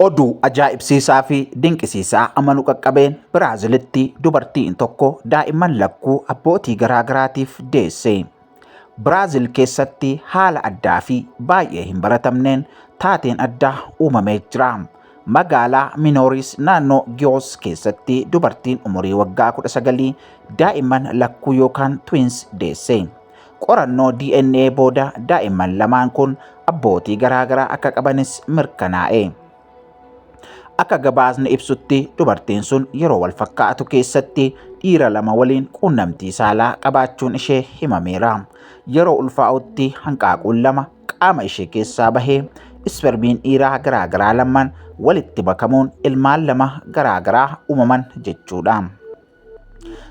Oduu ajaa'ibsiisaa fi dinqisiisaa amanu qaqqabeen Biraazilitti dubartiin tokko daa'imman lakkuu abbootii garaa garaatiif deesse. Biraazil keessatti haala addaa fi baay'ee hin baratamneen taateen addaa uumamee jira. Magaalaa Minooris naannoo Giyoos keessatti dubartiin umurii waggaa 19 daa'imman lakkuu yookaan twins deesse. Qorannoo DNA booda daa'imman lamaan kun abbootii garaagaraa akka qabanis mirkanaa'e. Akka gabaasni ibsutti dubartiin sun yeroo wal fakkaatu keessatti dhiira lama waliin quunnamtii saalaa qabaachuun ishee himameera. Yeroo ulfaa'utti hanqaaquun lama qaama ishee keessaa bahee ispermiin dhiiraa garaagaraa lamaan walitti makamuun ilmaan lama garaagaraa uumaman jechuudha.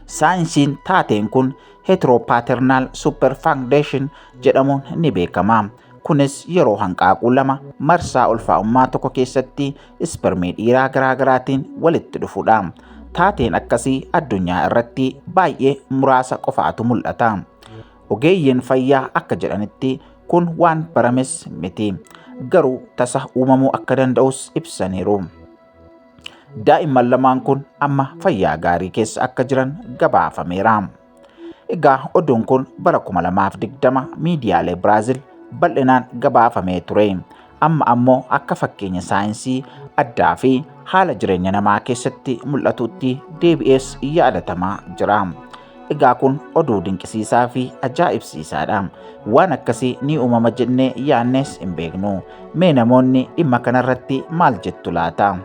Saayinsiin taateen kun heteropaternal superfundation jedhamuun ni beekama. Kunis yeroo hanqaaquu lama marsaa ulfaa'ummaa tokko keessatti ispermii dhiiraa garaagaraatiin walitti dhufudha. Taateen akkasii addunyaa irratti baay'ee muraasa qofaatu mul'ata. Ogeeyyiin fayyaa akka jedhanitti kun waan barames miti. Garuu tasa uumamuu akka danda'us ibsaniiru. Daa'imman lamaan kun amma fayyaa gaarii keessa akka jiran gabaafameera. Egaa oduun kun bara 2020 miidiyaalee Biraazil bal'inaan gabaafamee ture. Amma ammoo akka fakkeenya saayinsii addaa fi haala jireenya namaa keessatti mul'atutti deebi'ees yaadatamaa jira. Egaa kun oduu dinqisiisaa fi ajaa'ibsiisaadha. Waan akkasii ni uumama jennee yaannees hin beeknu. Mee namoonni dhimma kanarratti maal jettu laata?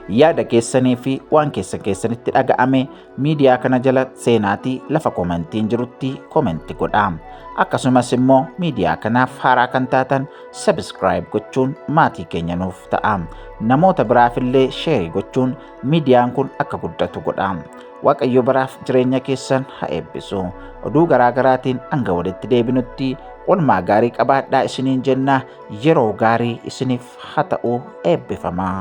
Yaada keessanii fi waan keessan keessanitti dhaga'ame miidiyaa kana jala seenaatii lafa komentiin jirutti komenti godha. Akkasumas immoo miidiyaa kanaaf haaraa kan taatan sabiskiraayib gochuun maatii keenya nuuf ta'a. Namoota biraafillee sheerii gochuun miidiyaan kun akka guddatu godha. Waaqayyo baraaf jireenya keessan haa eebbisu. Oduu garaa garaatiin hanga walitti deebinutti olmaa gaarii qabaadhaa isiniin jenna yeroo gaarii isiniif haa ta'u eebbifamaa.